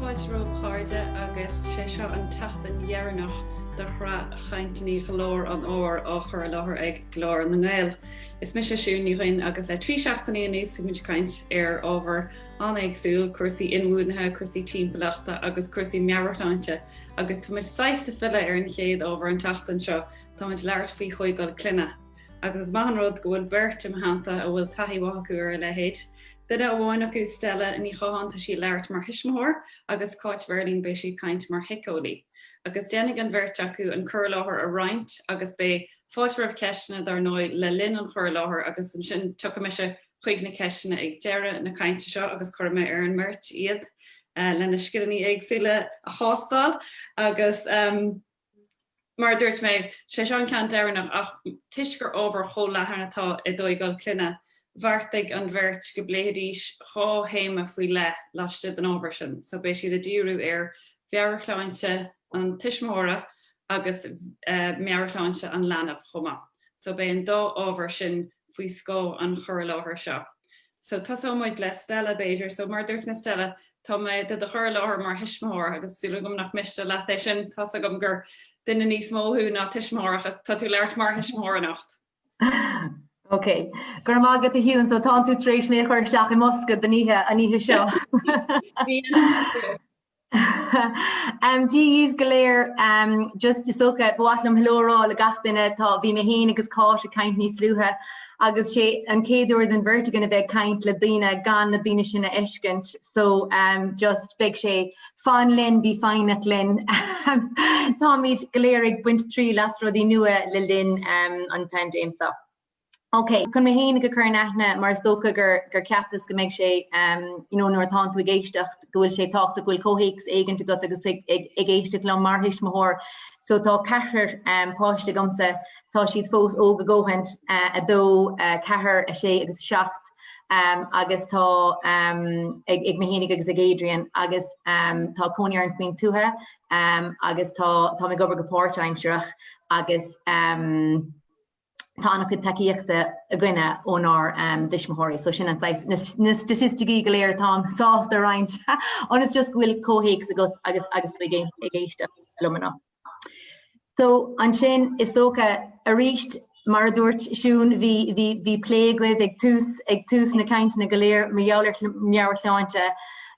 Fáilte romhaibh a chairde agus sé seo an tseachtain dheireanach do shraith chainteanna Ghlór an Fhómhair á chur i láthair ag Glór na nGael. Is mise Siún Ní Dhuinn agus le trí seachtainí anuas bhí muid ag caint ar ábhair an-éagsúil, cúrsaí inbhuanaithe, cúrsaí timpeallachta agus cúrsaí meabhairshláinte agus tá muid saghas ag filleadh ar an chéad ábhar an tseachtain seo, tá muid ag labhairt faoi thógáil clainne. agus is maith an rud go bhfuil beirt i mo theannta a bhfuil taithí mhaith acu ar a leithéid. Duine amháin acu, Stella Ní Chatháin, tá sí ag labhairt mar thuismitheoir, agus Cáit Verling, beidh sí ag caint mar shíceolaí. Agus déanfaidh an bheirt acu an cur i láthair a roinnt agus beidh fáilte roimh cheisteanna, dár ndóigh, le linn an chur i láthair agus ansin tiocfaidh mise chuig na ceisteanna ag deireadh na cainte seo agus cuirfidh mé ar an mbeirt iad lena sciliní éagsúla a thástáil agus Mar a dúirt mé, sé seo an ceann deireanach ach toisc gur ábhar chomh leathan atá i dtógáil clainne, bheartaigh an bheirt go bpléifidís dhá théama faoi leith laistigh den ábhar sin, so beidh siad ag díriú ar mheabhairshláinte an tuismitheora agus meabhairshláinte an leanbh chomh maith. So beidh an dá ábhar sin faoi scáth an chur i láthair seo. So, tosóidh muid le Stella, b'fhéidir. So, mar a dúirt mé, Stella, tá mé do do chur i láthair mar thuismitheoir agus súil agam nach miste leat é sin. Tá's agam gur duine níos mó thú ná tuismitheoir ach tá tú ag labhairt mar thuismitheoir anocht. Ok, go raibh maith agat, a Shiún, so tá tú tar éis mé a chur isteach i mbosca don oíche, an oíche seo. Dia dhíbh go léir. Just, is dócha, ba mhaith liom hello a rá le gach duine. Tá, bhí mé fhéin agus Cáit ag caint níos luaithe agus sé an chéad uair don bheirt againn a bheith ag caint le daoine gan na daoine sin a fheiscint so just beidh sé, fan linn, bí foighneach linn. Táimid go léir ag baint triail as rudaí nua le linn an phaindéim seo. OK, chun mé fhéinig a chur in aithne, mar is dócha gur cheapas go mbeidh sé, you know, nuair atánn tú ag éisteacht, go bhfuil sé tábhachtach go bhfuil comhthéacs éigint agat agus ag éisteacht liom mar thuismitheoir. So tá ceathrar páiste agamsa, tá siad fós óg a ndóthain, a dó, a ceathair, a sé agus a seacht, agus tá ag mé fhéinig agus ag Adrian agus tá cónaí orainn faoin tuath agus táim ag obair go páirtaimsearach agus, tá an-chuid tacaíochta againne ónár dtuismitheoirí, so sin an saghas, na staitisticí go léir atáim sásta a roinnt, ionas just go bhfuil comhthéacs agat agus ag éisteacht liom anocht. So ansin, is dócha, arís, mar a dúirt Siún, bhí bhí bhí plé agaibh ag tús ag tús na cainteanna go léir mar gheall ar meabhairshláinte,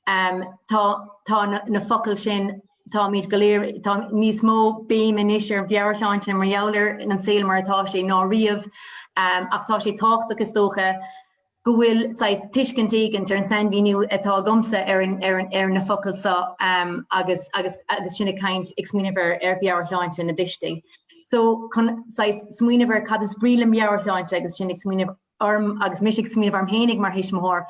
tá tá na focail sin táimid go léir, tá níos mó béim anois ar mheabhairshláinte mar gheall ar an saol mar atá sé ná riamh ach tá sé tábhachtach is dócha go bhfuil saghas tuiscint éigint ar an sainmhíniú atá agamsa ar an, ar an, ar na focail seo um, agus, agus, agus sinn ag caint ag smaoineamh ar, ar mheabhairshláinte na dtuistí. So chun saghas smaoineamh ar cad is brí le mheabhairshláinte agus sinn ag smaoineamh orm agus mise ag smaoineamh orm fhéinig mar thuismitheoir,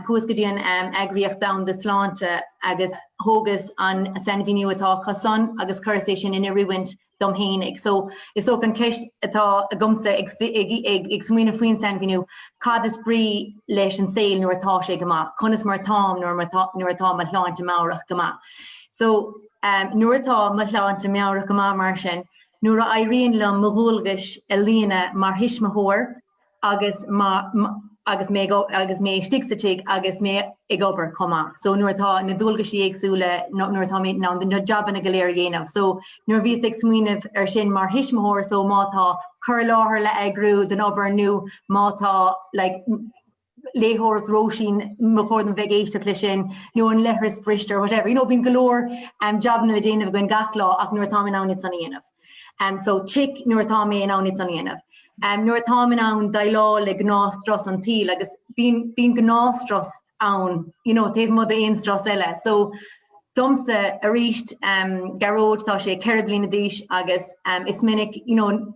chuas go dtí an Eagraíocht Dhomhanda Sláinte agus thógas an sainmhíniú atá acu san agus chuireas é sin in oiriúint dom fhéinig. So, is dócha an cheist atá agamsa ag smaoineamh faoin sainmhíniú, cad is brí leis an saol nuair atá sé go maith? Conas mar táim nuair atá mo shláinte meabhrach go maith? So, nuair atá mo shláinte meabhrach go maith mar sin, Nuair a éiríonn liom mo dhualgais a líonadh mar thuismitheoir agus agus mé agus mé istigh sa tigh agus mé ag obair chomh maith, so nuair atá na dualgaisí éagsúla nó nuair atá mé in ann na jabanna go léir a dhéanamh. So nuair a bhíos ag smaoineamh air sin mar thuismitheoir so má tá cur i láthair le heagrú don obair nó má tá like, léitheoireacht Róisín, ba chóir dom bheith ag éisteacht leis sin, nó an leithreas briste or whatever, you know bíonn go leor jabanna le déanamh againn gach lá ach nuair atá mé in ann iad san a dhéanamh. So tick nuair atá mé in ann iad san a dhéanamh. Nuair atáim in ann déileáil le gnáthstrus an tsaoil agus bíonn gnáthstrus ann you know taobh amuigh d'aon strus eile. So domsa aríst, Gearóid, tá sé ceithre bliana d'aois agus is minic you know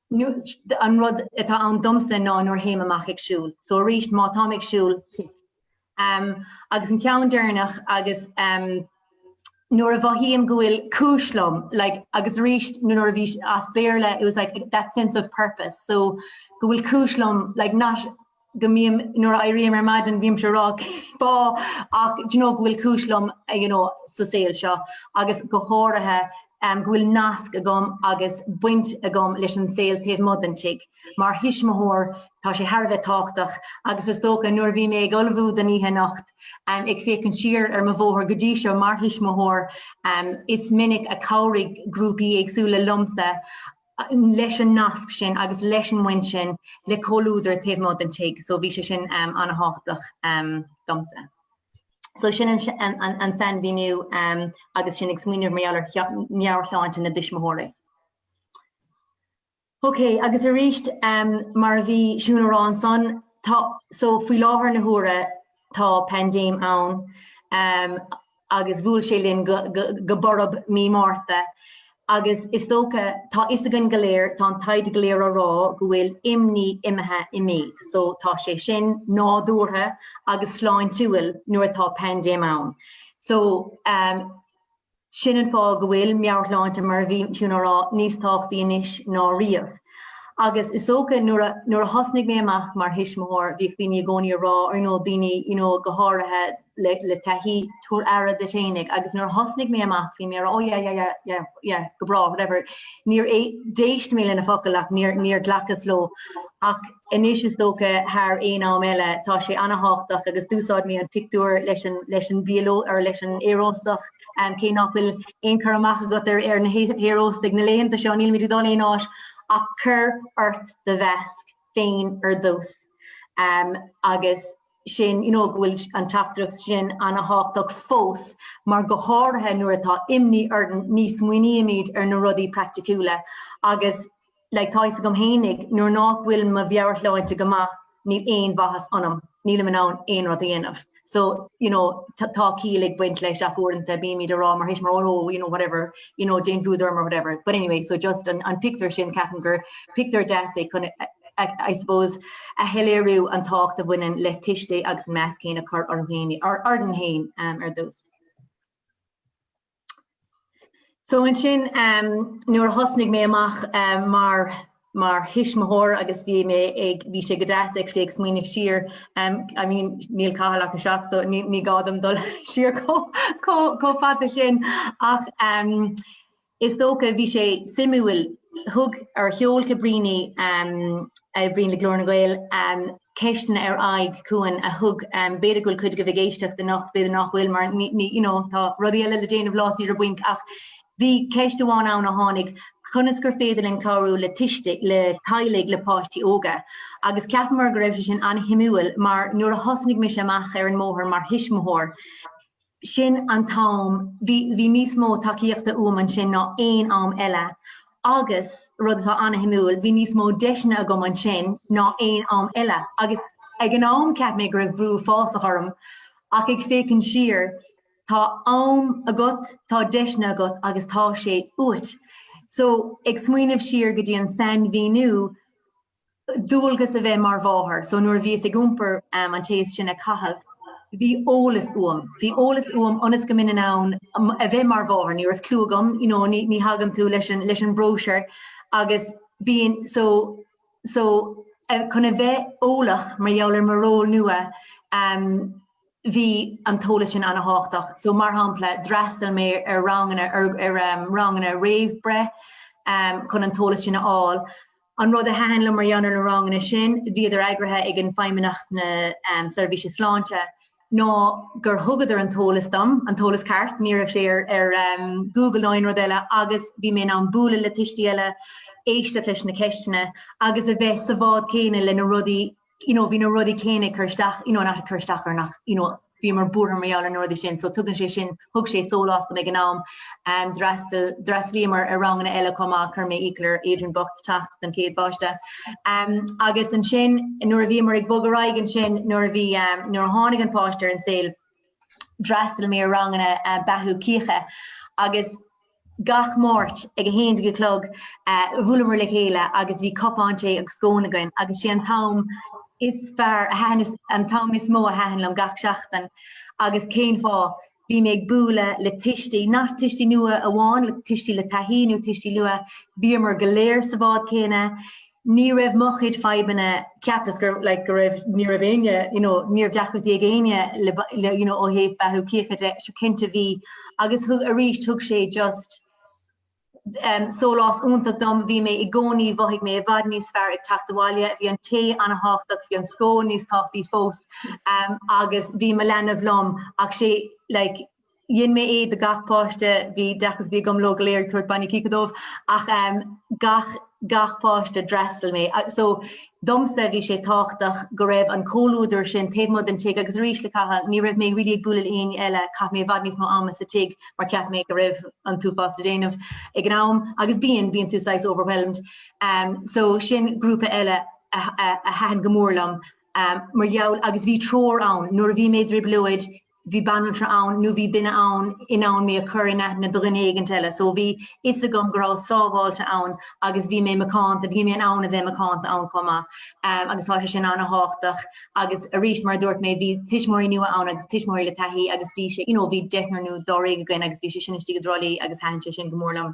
An rud atá ann domsa ná nuair a théim amach ag siúl. So arís má táim ag siúl, tic. Agus an ceann deireanach agus nuair a mhothaím go bhfuil cúis liom, like agus arís nuair a bhí, as Béarla, it was like that sense of purpose, so go bhfuil cúis liom like not, go mbím, nuair a éirím ar maidin, bímse ag rá cén fáth ach do you know go bhfuil cúis liom you know sa saol seo agus go háirithe go bhfuil nasc agam agus baint agam leis an saol taobh amuigh den tigh. Mar thuismitheoir, tá sé thar a bheith tábhachtach agus is dócha nuair a bhí mé ag ullmhú don oíche anocht ag féachaint siar ar mo bhóthar go dtí seo mar thuismitheoir, is minic a chabhraigh grúpaí éagsúla liomsa, leis an nasc sin agus leis an mbaint sin le comhluadar taobh amuigh den tigh so bhí sé sin an-thábhachtach domsa. So sin an sainmhíniú agus sinn ag smaoineamh mar gheall ar mheabhairshláinte na dtuismitheoirí. Ok, agus arís mar a bhí Siún ag rá ansan, tá, so faoi láthair na huaire tá paindéim ann, agus bhuail sé linn go borb Mí Márta agus is dócha, tá 'fhios againn go léir, tá an taighde go léir á rá go bhfuil imní imithe i méid so tá sé sin nádúrtha agus sláintiúil nuair atá paindéim ann. So sin an fáth go bhfuil meabhairshláinte mar a bhí Siún á rá níos tábhachtaí anois ná riamh. Agus is dócha nuair a thosnaigh mé amach mar thuismitheoir bhíodh daoine i gcónaí á rá ar ndóigh daoine you know go háirithe le le taithí tabhair aire duit fhéinig agus nuair a thosnaigh mé amach bhí mé á rá oh yeah yeah yeah yeah go bráth whatever níor d'éist mé lena focal ach níor níor ghlacas leo ach anois is dócha thar aon am eile tá sé ana-thábhachtach agus d'úsáid mé an pictiúr leis an leis an bhfear ó Aer leis an aeróstach um, cé nach bhfuil aon chur amach againn ar ar na haeróstaigh na laethanta seo níl muid ag dul aon áit ach cuir ort do mheasc féin ar dtús um, agus sin, you know go bhfuil an teachtaireacht sin an-thábhachtach fós mar go háirithe nuair atá imní orainn ní smaoinímid ar na rudaí praiticiúla agus like tá fhios agam fhéinig nuair nách bhfuil mo mheabharshláinte go maith níl aon mhaitheas ionam, nílim in ann aon rud a dhéanamh so you know tá ciall ag baint leis ach uaireanta bímid á rá mar thuismitheoir oh you know whatever you know don't bother me or whatever but anyway so just an, an pictiúr sin ceapaim gur pictiúr deas é chun I suppose a shoiléiriú an tábhacht a bhaineann le tuistí agus an measc céanna a chur orthu féin orthu féin um, ar dtús. So an sin um, nuair a thosnaigh mé amach um, mar mar thuismitheoir agus bhí mé ag, bhí sé go deas ag, sé ag smaoineamh siar, em, I mean níl Cathal ach a seacht so ní, ní gá dom dul siar chomh, chomh fada sin ach em is dócha bhí sé suimiúil, thug, ar, sheol Cabrini em a oibríonn le Glór na nGael em ceisteanna ar aghaidh chugainn a thug em b'fhéidir go bhfuil cuid agaibh ag éisteacht anocht b'fhéidir nach bhfuil mar ní, ní you know tá rudaí eile le déanamh lá saoire bainc ach Bhí ceist amháin ann a tháinig, conas gur féidir linn cabhrú le tuistí, le teaghlaigh le páistí óga? Agus cheap mé go raibh sé sin an-shuimiúil mar nuair a thosnaigh mise amach ar an mbóthar mar thuismitheoir, sin an t-am, bhí, bhí níos mó tacaíochta uaim ansin ná aon am eile agus, rud atá an-shuimiúil, bhí níos mó deiseanna agam ansin ná aon am eile agus ag an am cheap mé go raibh brú uafásach orm ach ag féachaint siar, Tá am agat, tá deiseanna agat agus tá sé uait. So, ag smaoineamh siar go dtí an sainmhíniú, dualgas a bheith mar mháthair. So nuair a bhíos ag iompar an chéad seans, Cathal, bhí eolas uaim. Bhí eolas uaim ionas go mbeinn in ann a bheith mar mháthair. Ní raibh clú agam, you know, ní ní thagann tú leis an leis an mbróisiúr agus bíonn, so, so chun a bheith eolach mar gheall ar mo ról nua, eh, bhí an t-eolas sin an-tábhachtach. So, mar shampla, d'fhreastail mé ar ranganna, ar, ar em, ranganna réamhbhreith em, chun an t-eolas sin a fháil. An rud a thaitin liom mar gheall ar na ranganna sin, bhíodar eagraithe ag an bhFeidhmeannacht na em, Seirbhíse Sláinte, ná gur thugadar an t-eolas dom, an t-eolas ceart, ní raibh sé ar, ar em, Google ná aon rud eile agus bhí mé in ann bualadh le tuistí eile, éisteacht leis na ceisteanna agus a bheith sa bhád céanna le na rudaí you know bhí na rudaí céanna ag cur isteach you know not ag cur isteach orainn ach you know bhíomar buartha mar gheall ar na rudaí sin so tugann sé sin thug sé sólás dom ag an am um, d'fhreastal d'fhreastlaíomar ar ranganna eile chomh maith chuir mé iachall ar Adrian bocht teacht don chéad pháiste um, agus ansin nuair a bhíomar ag bogadh ar aghaidh ansin nuair a bhí um, nuair a tháinig an páiste ar an saol d'fhreastail mé ar ranganna uh, beathú cíocha agus Gach Máirt ag a haon déag a chlog bhuaileamar le chéile agus bhí cupán tae agus scón againn agus is é an t-am is fearr a thaitin, an t-am is mó a thaitin liom gach seachtain. Agus cén fáth? Bhí mé ag bualadh le tuistí, nach tuistí nua amháin, tuistí le taithí nó tuistí nua, bhíomar go léir sa bhád céanna, Ní raibh mo chuid fadhbanna cheapas like go raibh ní raibh éinne you know ní raibh deacrachtaí ag éinne le le you know ó thaobh beathú cíocha de so cinnte bhí agus thug arís thug sé just um sólás iontach dom bhí mé i gcónaí mhothaigh mé i bhfad níos fearr ag teacht abhaile bhí an tae an-tábhachtach bhí an scón níos tábhachtaí fós um agus bhí mo leanbh liom ach is é like Dhein mé é do gach páiste, bhí deacrachtaí agam leo go léir ag tabhairt bainne cíche dóibh ach em gach, gach páiste, d'fhreastail mé so domsa bhí sé tábhachtach go raibh an comhluadar sin taobh amuigh den tigh agus arís le Cathal ní raibh mé really ag bualadh le éinne eile, chaith mé i bhfad níos mó ama sa tigh mar cheap mé go raibh an t-uafás le déanamh ag an am agus bíonn, bíonn tú saghas overwhelmed em so sin grúpa eile a, a, a thaitin go mór liom em mar gheall agus bhí treoir ann nuair a bhí mé i dtrioblóid, bhí banaltra ann nó bhí duine ann in ann mé a chur in aithne do dhuine éigint eile. So bhí a fhios agam go rabhas sábháilte ann agus bhí mé macánta, bhí mé in ann a bheith macánta ann chomh maith agus tá sé sin ana-thábhachtach agus arís mar a dúirt mé, bhí tuismitheoirí nua ann agus tuismitheoirí le taithí agus bhí sé, you know, bhí deichniúr nó dáréag againn agus bhí sé sin istigh i dTrá Lí agus thaitin sé sin go mór liom.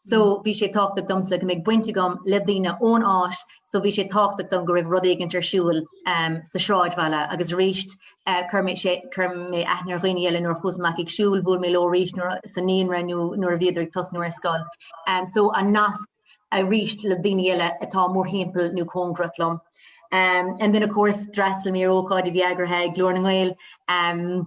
so bhí sé tábhachtach domsa go mbeidh baint agam le daoine ón áit so bhí sé tábhachtach dom go raibh rud éigin ar siúl ehm sa sráidbhaile agus arís eh chuir mé sé chuir mé aithne ar dhaoine eile nuair a chuas amach ag siúl bhuail mé leo arís sa naíonra nó nuair a bhíodar ag tosnú ar scoil ehm so an nasc arís le daoine eile atá mórthimpeall nó cóngarach liom. Ehm and then of course d'fhreastail mé ar ócáid a bhí eagraithe ag Glór na nGael ehm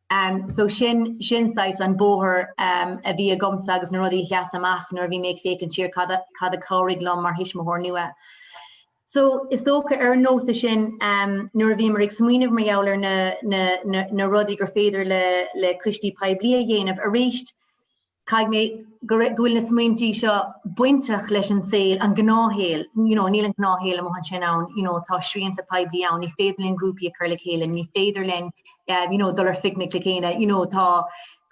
Em, so sin, sin saghas an bóthar, em, a bhí agamsa agus na rudaí a sheas amach nuair a bhí mé ag féachaint siar, cad a, cad a chabhraigh liom mar thuismitheoir nua. So, is dócha, ar an nóta sin, em, nuair a bhíomar ag smaoineamh mar gheall ar na, na, na, na rudaí gur féidir le, le coistí poiblí a dhéanamh, aríst, Caithfidh mé go bhfuil na smaointí seo bainteach leis an saol, an gnáthshaol, you know, níl an gnáthshaol amuigh ansin ann, you know, tá srianta poiblí ann, ní féidir linn grúpaí a chur le chéile, ní féidir linn, um you know, dul ar phicnic le chéile, you know, tá,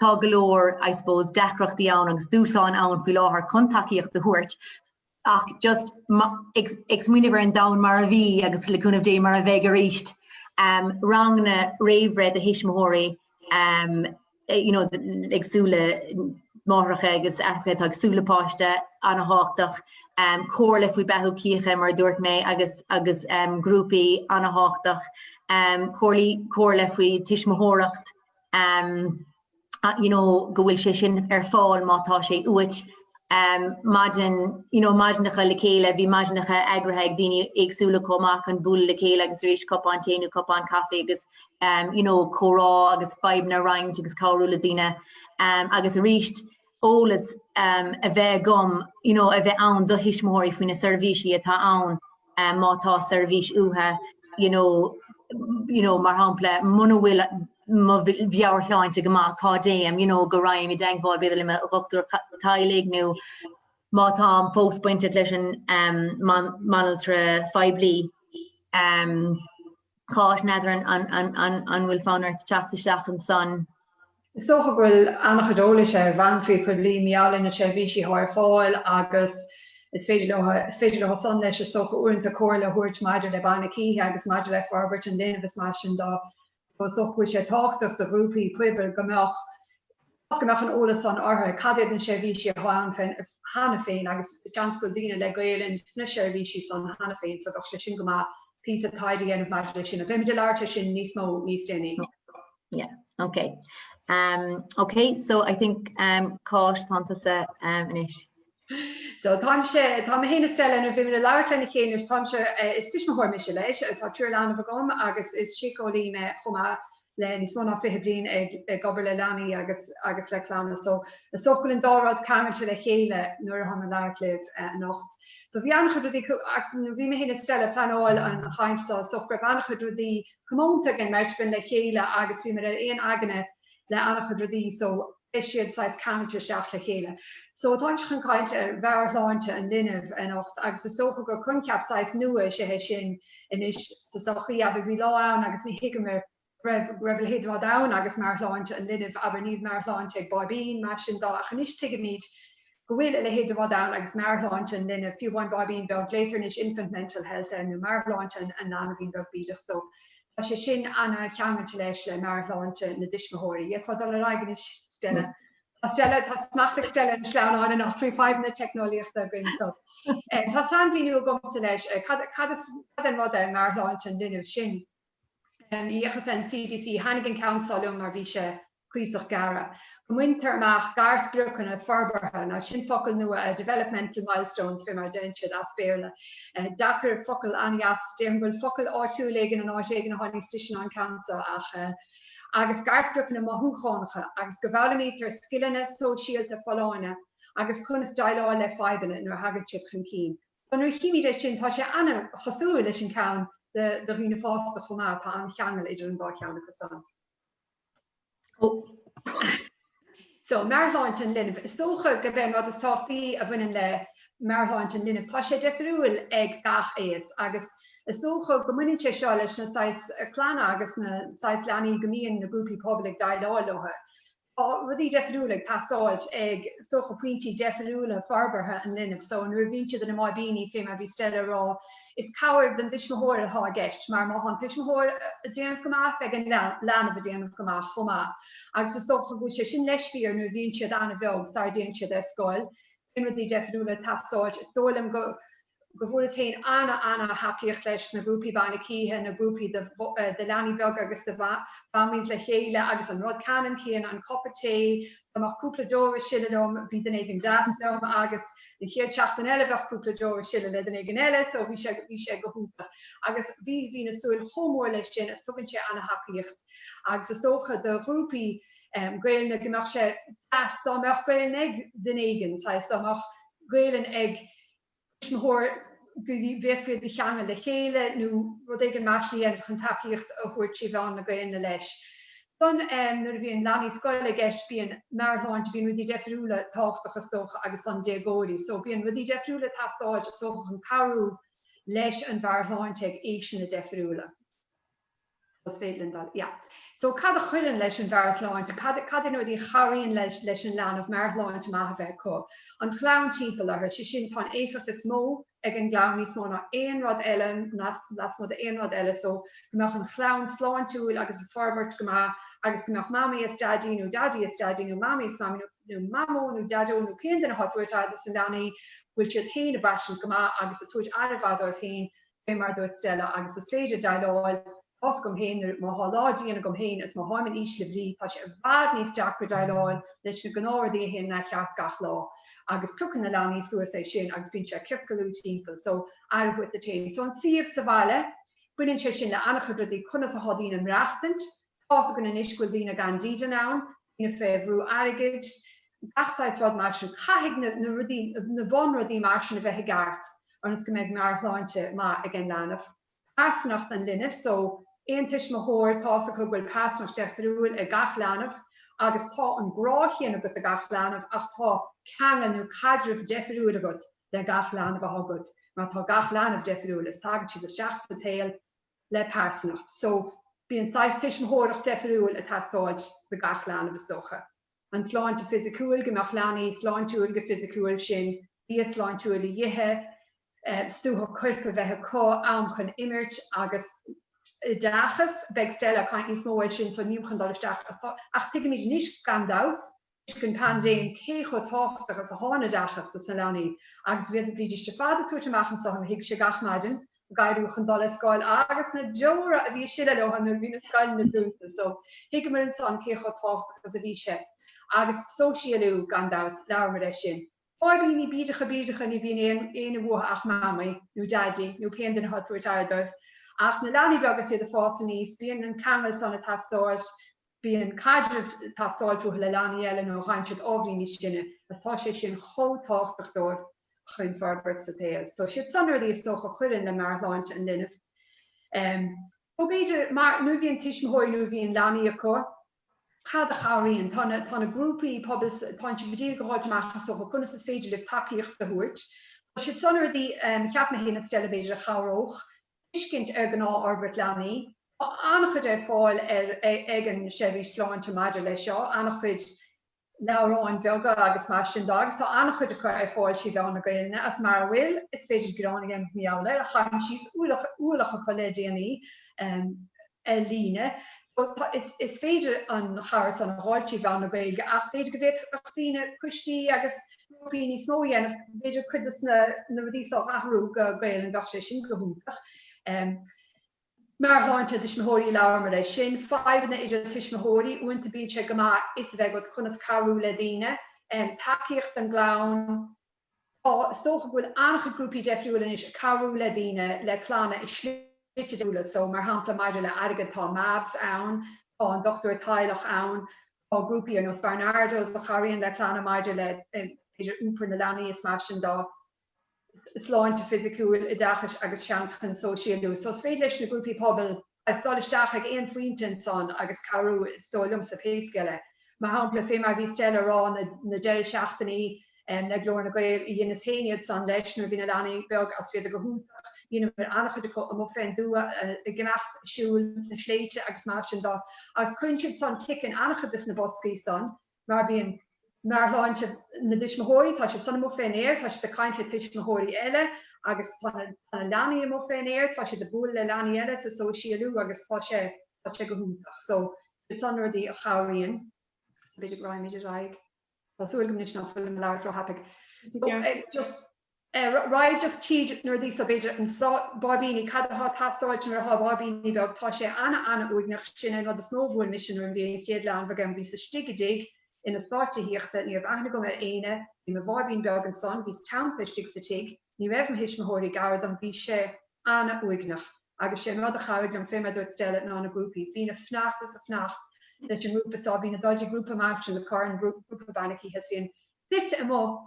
tá go leor, I suppose, deacrachtaí ann agus dúshláin ann faoi láthair chun tacaíocht a thabhairt. ach just ag smaoineamh ar an domhan mar a bhí agus le cúnamh Dé mar a bheidh arís, ranganna réamhbhreithe do thuismitheoirí you know ag súil le máithreacha agus aithreacha atá ag súil le páiste, an-tábhachtach, comhairle faoi beathú cíche mar a dúirt mé agus agus grúpaí, an-tábhachtach, comhairle faoi tuismitheoireacht, you know, go bhfuil sé sin ar fáil má tá sé uait. Um, maidin, you know, maidneacha le chéile, bhí maidneacha eagraithe ag daoine éagsúla chomh maith chun bualadh le chéile agus arís cupán tae nó cupán caife agus um, you know, comhrá agus fadhbanna a roinnt agus cabhrú le daoine. Um, agus aríst, eolas a bheith agam, you know a bheith ann do thuismitheoirí faoi na seirbhísí atá ann má tá seirbhís uathu you know, you know mar shampla muna bhfuil mo mheabhairshláinte go maith cá dtéim you know go raghainn i dteagmháil b'fhéidir le mo dhochtúir teaghlaigh nó má táim fós bainteach leis an mbanaltra phoiblí. Cáit, N'fheadar an bhfuil fonn ort teacht isteach ansan? Is dócha go bhfuil an-chuid eolais ag banaltraí poiblí mar gheall ar na seirbhísí atá ar fáil agus is féidir leo, is féidir leo san leis, is dócha, uaireanta comhairle a thabhairt maidir le bainne cíche agus maidir le forbairt an linbh is mar sin de. So is dócha go bhfuil sé tábhachtach do ghrúpaí pobail go mbeadh. Toisc go mbeadh an eolas san acu cad iad na seirbhísí atá ann cheana féin agus seans go bhfuil daoine le Gaelainn sna seirbhísí san cheana féin so bheadh sé sin go maith píosa taighde a dhéanamh maidir leis sin ach beidh muid ag labhairt faoi sin níos mó níos déanaí. Yeah, yeah, ok. Ok, so I think Cáit tá tusa anois. So táimse, tá mé féin is Stella nó beimid ag labhairt lena chéile anois, táimse, is tuismitheoir mise leis, tá triúr leanbh agam agus is síceolaí mé chomh maith le níos mó ná fiche bliain ag obair le leanaí agus le clanna so is dócha go bhfuil an dá rud ceangailte le chéile nuair atáim ag labhairt libh anocht. So bhí an-chuid rudaí nuair a bhí mé fhéin is Stella ag pleanáil an chaint so is dócha go raibh an-chuid rudaí comónta ag an mbeirt againn le chéile agus bhíomar ar aon aigne le an-chuid rudaí so, beidh siad saghas ceangailte isteach le chéile. So táim chun caint ar mheabhairshláinte an linbh anocht agus is dócha gur coincheap saghas nua is ea é sin anois sa sochaí, abair bhí lá ann agus níor thuigeamar go raibh a leithéid de rud ann agus meabhairshláinte an linbh, abair níl meabhairshláinte ag báibín, mar sin dá ach anois tuigimid. go bhfuil a leithéid de rud ann agus meabhairshláinte an linbh, fiú amháin báibín beag, glaotar anois infant mental health air, nó meabhairshláinte an leanbhín beag bídeach so, tá sé sin ana-cheangailte leis, le meabhairshláinte na dtuismitheoirí. Féadfair dul ar aghaidh anois Stella. Tá Stella, tá smacht ag Stella ar na sleamhnáin anocht, trí fadhbanna na teicneolaíochta againn so. Tá sainmhíniú agamsa leis, cad, cad is, cad é an rud é meabhairshláinte an linbh, sin, a bhuíochas den CDC, thaitin an ceann seo liom mar bhí sé, cuíosach gearra. go mbaintear amach garspriocanna forbartha, nó sin focal nua, developmental milestones fé mar a deireann siad as Béarla. Deacair, focal an-deas. Déarfainn go bhfuil focal áitiúil éigin in áit éigin atá níos deise ná an ceann so, ach eh. agus garspriocanna mothúchánacha, agus go bhfoghlaimítear scileanna sóisialta folláine agus conas déileáil le fadhbanna nuair a thagann siad chun cinn. So nuair a chímid é sin, tá sé ana-chosúil leis an ceann do dhaoine fásta chomh maith, tá an-cheangal idir an dá cheann acu san. So, meabhairshláinte an linbh. Is dócha gurb é an rud is tábhachtaí a bhaineann le meabhairshláinte an linbh, tá sé deifriúil ag gach aos agus is dócha go mbaineann sé seo leis na saghais clanna agus na saghais leanaí go mbíonn na grúpaí pobail ag déileáil leo. Tá rudaí deifriúla ag teastáilt ag, is dócha, pointí deifriúla forbartha an linbh. So, nuair a bhíonn siad ina mbáibíní, fé mar a bhí Stella a rá, Is cabhair don dtuismitheoir atá i gceist mar má tá an tuismitheoir ag déanamh go maith, beidh an leanbh ag déanamh go maith chomh maith agus is dócha go bhfuil sé sin leis fíor nuair a bhíonn siad an-bheag sara dtéann siad ar scoil, bíonn rudaí deifriúla ag teastáilt. Is dóigh liom go go bhfuaireas féin an-ana-thacaíocht leis na grúpaí bainne cíche, na grúpaí do leanaí beaga agus do mhamaíos le chéile agus an rud ceannann céanna, an cupán tae, Dá mbeadh cúpla deora ag sileadh liom bhí duine éigin deas liom agus an chéad seachtain eile bheadh cúpla deora ag sileadh le duine éigin eile so bhí sé bhí sé go hiúntach agus bhí bhíos ag súil chomh mór leis sin agus tugann sé ana-thacaíocht agus is dócha do ghrúpaí Gaelainne go mbeadh sé deas dá mbeadh Gaelainn ag duine éigin saghas dá mbeadh Gaelainn ag tuismitheoir go bhféadfaí iad a cheangal le chéile nó rud éigin mar sin a dhéanamh chun tacaíocht a thabhairt trí mheán na Gaelainne leis. Ansan nuair a bhíonn leanaí scoile i gceist bíonn meabhairshláinte, bíonn rudaí deifriúla tábhachtach is dócha agus ansan déagóirí so bíonn rudaí deifriúla ag teastáilt is dócha chun cabhrú leis an mheabhairshláinte ag aoiseanna deifriúla. Is féidir linn dul, yeah. So, cad a chuireann leis an meabhairshláinte? Cad, cad é na rudaí a chabhraíonn leis, leis an leanbh meabhairshláinte maith a bheith acu? An chlann timpeall orthu, sé sin, tá an éifeacht is mó ag an gclann, níos mó ná aon rud eile, lasmuigh d'aon rud eile, so, go mbeadh an chlann sláintiúil agus ag forbairt go maith agus go mbeadh mamaí is daidí, nó daidí is daidí, nó mamaí is mamaí, nó mamó nó deaideo nó cén duine atá ag tabhairt aire dos na leanaí, go bhfuil siad féin ag braistint go maith agus ag tabhairt aire mhaith dóibh féin Fé mar a dúirt Stella, agus is féidir déileáil tá's agam féin, nuair, má thá lá dian agam féin is má tháim in ísle brí, tá sé i bhfad níos deacra déileáil leis na gnáthrudaí a théann mícheart gach lá. Agus piocann na leanaí suas é sin agus bíonn sé ag ciorcalú timpeall, so, aire dhuit féin. So, an suíomh sa bhaile, baineann sé sin le an-chuid rudaí, conas a thá daoine ag maireachtaint, tá's againn anois go bhfuil daoine gan dídean ann, Daoine fé bhrú airgid, gach saghas rud mar sin. Caithfidh na rudaí, na bun rudaí mar sin a bheith i gceart ionas go mbeidh meabhairshláinte maith ag an leanbh. Pearsanacht an linbh, so, aon tuismitheoir, tá's acu go bhfuil pearsanacht deifiriúil ag gach leanbh agus tá an grá chéanna agat do gach leanbh ach tá ceangal nó caidreamh deifiriúil agat le gach leanbh a thá agat, mar tá gach leanbh deifiriúil is tagann siad isteach sa tsaol le pearsanacht. So, bíonn saghas tuismitheoireacht deifiriúil ag teastáilt do gach leanbh, is dócha. An tsláinte fisiciúil, go mbeadh leanaí sláintiúil go fisiciúil, sin, bia sláintiúil a dh'ithe, suaitheadh coirp a bheith acu, am chun imirt agus oideachas. Beidh Stella ag caint níos mó air sin, so nílim chun dul isteach ach tuigimid anois, gan dabht, toisc an paindéim cé chomh tábhachtach is a thá an t-oideachas do sna leanaí agus bhídís ar fad ag tabhairt amach anseo i mo thighse gach maidin ag éirí chun dul ar scoil agus na deora a bhí ag sileadh leo nuair a bhí na scoileanna dúnta so thuigeamar ansan cé chomh tábhachtach is a bhí sé. Agus sóisialú, gan dabht, labhraíomar air sin. Báibíní bídeacha bídeacha ní bhíonn éinne uatha ach Mamaí, nó Daidí, nó pé an duine atá ag tabhairt aire dóibh. Ach na leanaí beaga is iad ag fás aníos, bíonn an ceangal san ag teastáilt, Bíonn caidreamh ag teastáilt uathu le leanaí eile nuair a fhaigheann siad ábhairín níos sine, tá sé sin chomh tábhachtach dóibh chun forbairt sa tsaol. So siad san rudaí is dócha a chuireann le meabhairshláinte an linbh. So b'fhéidir mar nuair a bhíonn tuismitheoirí nuair a bhíonn leanaí acu, cad a chabhraíonn? Tá na tá na grúpaí pobail tánn sibh ag iarraidh a dh'fháilt amach is dócha conas is féidir libh tacaíocht a thabhairt. So siad san rudaí cheap mé féin is Stella b'fhéidir a chabhródh tuiscint ar ghnáthfhorbairt leanaí. Tá an-chuid ar fáil ar ag an Seirbhís Sláinte maidir leis seo, an-chuid leabhráin bheaga agus mar sin de agus tá an-chuid acu ar fáil trí mheán na Gaelainne, is mara bhfuil, is féidir gearán a dhéanamh mar gheall air, ach dh'aimsíos ualach acu le déanaí. ar líne. So tá, is féidir an cartlann a fháilt trí mheán na Gaeilge ach b'fhéidir go bhféadfadh daoine, coistí agus grúpaí níos mó a dhéanamh, b'fhéidir cuid de na rudaí so a athrú go Gaelainn, bheadh sé sin go hiontach. Meabhairshláinte tuismitheoirí, labhramar air sin. Fadhbanna idir tuismitheoirí, uaireanta bíonn sé go maith fhios a bheith agat conas cabhrú le daoine. Tacaíocht don gclann. Tá, is dócha go bhfuil an-chuid grúpaí deifriúil anois ag cabhrú le daoine le clanna i slite difriúla so, mar shampla maidir le airgead tá Mabs ann, tá an Dochtúir Teaghlaigh ann, tá grúpaí ar nós Barnardos a chabhraíonn le clanna maidir le b'fhéidir iompar na leanaí is mar sin, dá sláinte fisiciúil, oideachais agus seans chun sóisialú. So is féidir leis na grúpaí pobail is dul isteach ag aon phointe ansan agus cabhrú, is dóigh liomsa, pé scéal é. Mar shampla, fé mar a bhí Stella a rá, na deirí seachtaine le Glór na Gael, dheineas féin iad san, leis, nuair a bhí na leanaí beag agus bhíodar go hiontach, dheineamar an-chuid acu amuigh fén dtuath, ag imeacht a siúl sna sléibhte agus mar sin de, agus cuireann siad san tic in an-chuid de sna boscaí san, mar bhíonn meabhairshláinte na dtuismitheoirí, tá siad san amuigh fén aer, tá siad ag caint le tuismitheoirí eile agus tá na leanaí amuigh fén aer, tá siad ag bualadh le leanaí eile ag sóisialú agus tá sé, tá sé go hiontach. So, siad san na rudaí a chabhraíonn. Is féidir liom dul ar aghaidh. Tá súil agam anois ná fuilim ag labhairt ró-thapaigh. Just. Raghad just tríd anois so, b'fhéidir, an báibíní, cad atá ag teastáil nuair atá báibíní beag, tá sé ana-ana-uaigneach, sin é an rud is mó a bhuail mise nuair a bhí an chéad leanbh agam, bhíos istigh i dtigh, in eastát tithíochta, ní raibh aithne agam ar éinne, bhí mo bháibín beag ansan, bhíos teannta istigh sa tigh, ní raibh mo thuismitheoirí gar dom, bhí sé ana-uaigneach. Agus sé an rud a chabhraigh liom, fé mar a dúirt Stella, ná na grúpaí, bhínn ag fanacht is ag fanacht leis an ngrúpa so, bhínn ag dul go dtí grúpa maidin Dé Céadaoin, grúpa bainne cíche is bhínn suite amuigh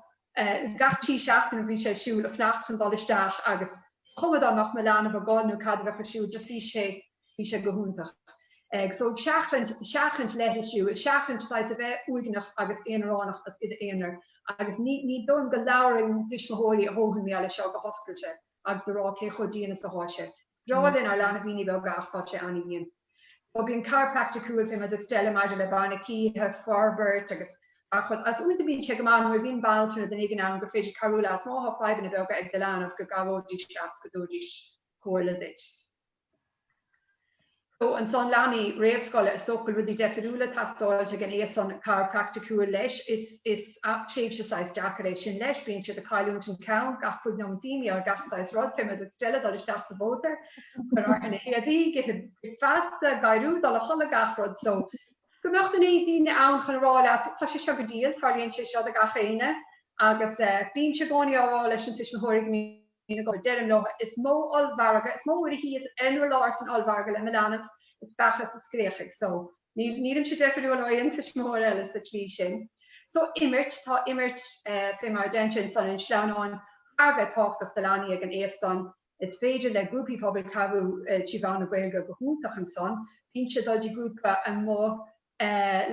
i gCathair, tí seachtain a bhí sé ar siúl ag fanacht chun dul isteach agus ba chuma dá mbeadh mo leanbh ag gol nó cad a bheadh ar siúl just bhí sé bhí sé go hiontach ag so ag seachaint seachaint leithlisiú ag seachaint saghas a bheith uaigneach agus aonaránach is i d'aonar agus ní ní dóigh liom go labhraíonn tuismitheoirí a ndóthain mar gheall air seo go hoscailte agus a rá cé chomh dian is atá sé. Breá linn ár leanbhíní beaga ach tá sé an-dhian. Tugann siad cabhair praiticiúil fé mar a dúirt Stella maidir le bainne cíche, forbairt agus gach rud. Is uaireanta bíonn sé go maith nuair a bhíonn banaltra nó duine éigin ann gur féidir cabhrú leat, má thá fadhbanna beaga ag do leanbh go gcabhróidís leat, go dtabhairfidís comhairle duit. So, ansan leanaí réamhscoile, is dócha go bhfuil rudaí deifiriúla ag teastáilt ag an aois san, cabhair praiticiúil leis, is is tréimhse saghas deacair é sin leis, bíonn siad ag cailliúint an cheann gach cúig nóimeat, d'aon ní, ar gach saghas rud, fé mar a dúirt Stella, dul isteach sa mhótar, cur orthu na héadaí, ithe bricfeasta, ag éirí, dul a chodladh, gach rud. So, go mbeadh na daoine ann chun a rá leat, tá sé seo go diail, tarlaíonn sé seo do gach éinne agus eh bímse i gcónaí á rá leis na tuismitheoirí go mbíonn. I gcónaí. Deirim leo, is mó ollmhargadh, is mó uair a bhíos ar an urlár san ollmhargadh le mo leanbh a speachadh is a scréachaigh so. Níl, nílimse deifiriúil ó aon tuismitheoir eile sa tslí sin. So, imirt, tá imirt, fé mar a deintear ansan ar an sleamhnán, thar a bheith tábhachtach do leanaí ag an aos san. Is féidir le grúpaí pobail cabhrú trí mheán na Gaeilge go hiontach ansan, bhínnse ag dul go dtí grúpa amuigh,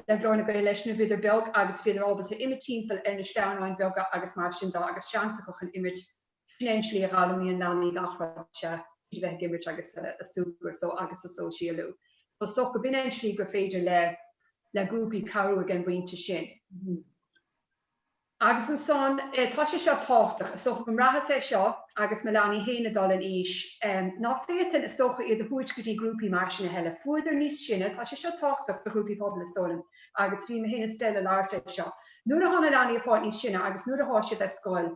le Glór na Gael leis nuair a bhíodar beag agus bhíodar ábalta imirt timpeall ar na sleamhnáin bheaga agus mar sin de agus seans acu chun imirt. Sin é an slí a dh'fhoghlaimíonn leanaí gach rud, is ea, tríd a bheith ag imirt agus a súgradh so agus a sóisialú. So, is dócha go b'in é an tslí gur féidir le le grúpaí cabhrú ag an bpointe sin. Agus ansan, eh, tá sé seo tábhachtach, is dócha go mbraitheas é seo agus mo leanaí féin ag dul in aois, em, ná féadfainn, is dócha, iad a thabhairt go dtí grúpaí mar sin a thuilleadh, bhíodar níos sine, tá sé seo tábhachtach do ghrúpaí pobail, is dóigh liom, agus bhí mé féin is dóigh liom ag labhairt air seo, nuair a thá na leanaí a fáil níos sine agus nuair a thá siad ar scoil,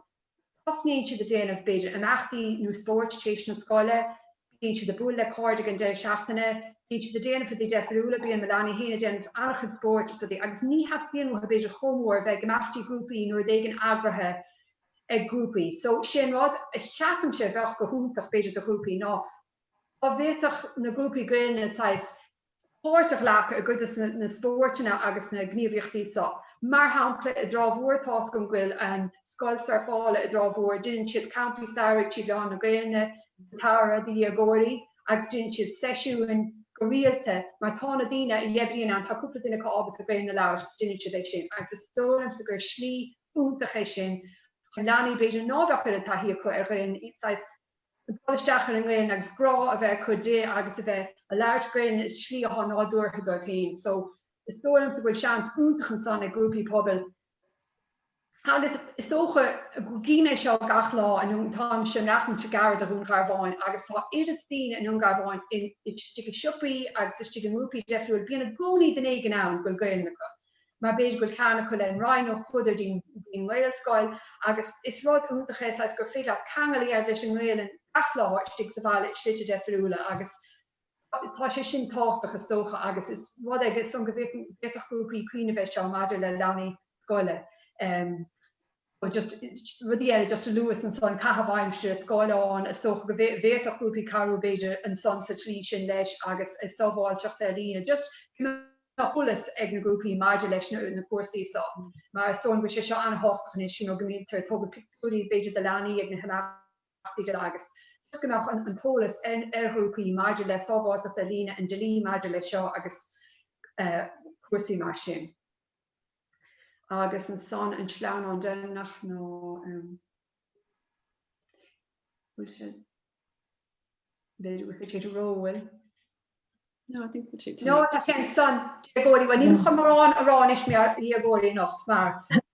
Tosnaíonn siad a' déanamh b'fhéidir imeachtaí nó spóirt t'éis na scoile, bíonn siad a' bualadh le cairde ag an deireadh seachtaine, bíonn siad a' déanamh rudaí deifiriúla, bíonn mo leanaí fhéin a' déanamh an-chuid spóirt is rudaí agus ní theastaíonn uathu b'fhéidir chomh mór a bheith ag imeachtaí grúpaí nó rud éigin eagraithe ag grúpaí so sé an rud a cheapaimse a bheadh go hiontach b'fhéidir do ghrúpaí ná dá bhféadfadh na grúpaí Gaelainne saghas páirt a ghlacadh i gcuid des na spóirteanna agus na gníomhaíochtaí seo. Mar shampla, i dTrá Mhór tá a fhios agam go bhfuil an scoil surfála i dTrá Mhór, déanann siad campaí samhraidh trí mheán na Gaelainne sa tsamhradh do dhéagóirí agus déanann siad seisiúin go rialta mar tá na daoine a dh'oibríonn ann, tá cúpla duine acu ábalta Gaelainn a labhairt agus déanann siad é sin agus is dóigh liomsa gur slí iontach é sin chun leanaí b'fhéidir ná beadh oiread taithí acu ar Ghaelainn saghas ag dul isteach ar an nGaelainn agus grá a bheith acu di agus a bheith a' labhairt Gaelainne i slí atá nádúrtha dóibh fhéin so is dóigh liomsa go bhfuil seans iontach ansan ag grúpaí pobail agus is dócha go gcím é seo gach lá i nDún táimse ag maireachtaint gairid do Dhún Garbhán agus tá oiread daoine i nDún Garbhán in istigh i siopaí agus istigh i ngrúpaí deifriúil bíonn i gcónaí duine éigin ann go bhfuil Gaelainn acu. mar b'fhéidir go bhfuil ceangal acu leis an Rinn nó chuadar dtí an ngaelscoil agus is rud iontach é saghas gur féidir leat ceangal a dhéanamh leis an nGaelainn gach lá istigh sa bhaile i slite deifiriúla agus tá sé sin tábhachtach is dócha agus is rud é san go bhféadfadh grúpaí cuimhneamh air seo maidir le leanaí scoile. nó just rudaí eile just a luas ansan, caitheamh aimsire, scáileáin, is dócha go bhféadfadh grúpaí cabhrú b'fhéidir ansan sa tslí sin leis agus sábháilteacht ar líne, just go mbeadh eolas ag na grúpaí maidir leis na cúrsaí so mar is dóigh liom go bhfuil sé seo an-thábhachtach anois you know go mbítear ag tógaint pictiúirí b'fhéidir de leanaí ag na himeachtaí agus just go mbeadh an t-eolas ar ghrúpaí maidir le sábháilteacht ar líne, an dlí maidir leis seo agus cúrsaí mar sin. Agus ansan an sleamhnán deireanach ná an bhfuil sé, b'fhéidir go bhfuil sé ag róil. No, I think that's it. No, tá sé ansan, dhéagóirí, bhuel nílim chun mórán a rá anois maidir le dhéagóirí anocht mar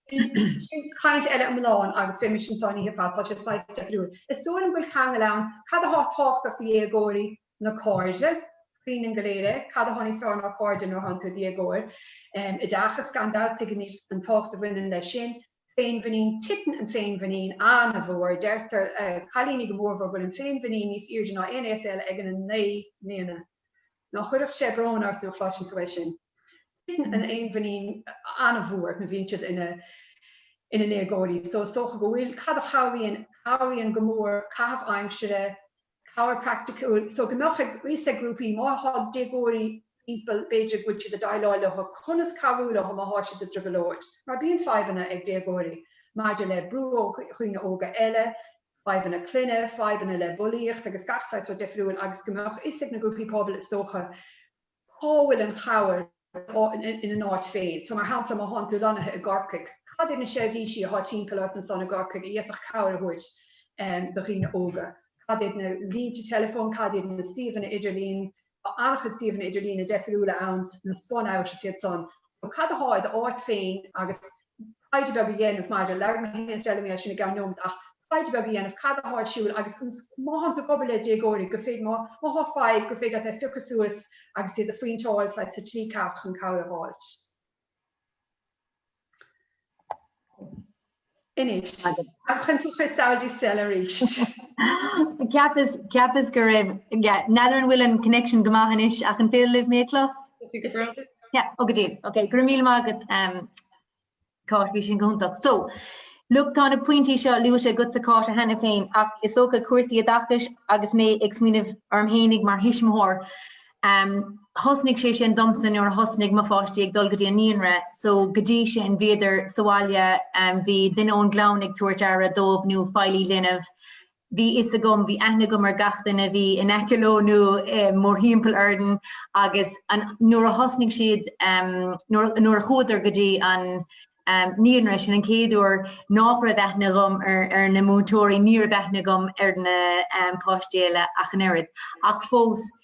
sin caint eile iomlán agus bheimis ansan oíche fada, tá sé saghas deifiriúil. Is dóigh liom go bhfuil ceangailt ann, cad atá tábhachtach do dhéagóirí, na cairde, cuimhnímid go léir é, cad a tháinig thar na cairde nuair a tháinig tú id dhéagóir? Oideachas, gan dabht, tuigimid an tábhacht a bhaineann leis sin. Féinmhuinín, titeann an féinmhuinín an-mhór, deirtear le cailíní go mórmhór go bhfuil an féinmhuinín níos airde ná aon aos eile ag an 9 mbliana. Ná chuirfeadh sé brón ort nuair a chloiseann tú é sin. Titeann an fhéinmhuinín an-mhór nuair a bhíonn siad ina ndéagóirí so is dócha go bhfuil, cad a chabhraíonn? Cabhraíonn go mór caitheamh aimsire, cabhair praiticiúil, so go mbeadh a fhios ag grúpaí, má thá déagóirí timpeall, b'fhéidir go bhfuil siad ag déileáil leothu, conas cabhrú leothu má thá siad i dtrioblóid, mar bíonn fadhbanna ag déagóirí maidir le brú ó dhaoine óga eile, fadhbanna clainne, fadhbanna le bulaíocht agus gach saghas rud difriúil agus go mbeadh fhios ag na grúpaí pobail, is dócha, cá bhfuil an chabhair ina n-áit féin? So, mar shampla, má thánn tú lonnaithe i gCorcaigh, cad iad na seirbhísí atá timpeall ort ansan i gCorcaigh a fhéadfadh cabhair a thabhairt do dhaoine óga? Cad iad na línte teileafóin, cad iad na suíomhanna idirlín, tá an-chuid suíomhanna idirlín deifiriúla ann, nó SpunOut is iad san. So, cad atá i d'áit féin agus taighde beag a dhéanamh maidir, labhair mé féin Stella mar gheall air sin i gceann nóiméad ach, taighde beag a dhéanamh cad atá ar siúl agus ansan má thánn tú ag obair le déagóirí gur féidir má má thá fadhb gur féidir leat é a phiocadh suas agus iad a phointeáilt sa tslí ceart chun cabhair a fháilt. Inis, Ab chun tú chuir samhail di Stella arís? Ceapas ceapas go raibh yeah, n'fheadar an bhfuil an connection go maith anois ach an féidir libh mé a chlos? Go bródúil. Yeah, ó go diail. Okay, go raibh míle maith agat um, Cáit, bhí sin go hiontach. So, Look, tá na pointí seo luaite agatsa Cáit cheana féin, ach is dócha cúrsaí oideachais agus mé ag smaoineamh orm fhéinig mar thuismitheoir. Um, thosnaigh sé sin domsa nuair a thosnaigh mo pháistí ag dul go dtí an naíonra, so go dtí sin bhíodar sa bhaile, um, bhí duine ón gclann ag tabhairt aire dóibh nó feighlí linbh, Bhí fhios agam, bhí aithne agam ar gach duine a bhí in aice leo nó mórthimpeall orainn agus nuair a thosnaigh siad, nuair, nuair a chuadar go dtí an naíonra, sin an chéad uair nách raibh aithne agam ar na múinteoirí, ní raibh aithne agam ar na páistí eile ach an oiread ach fós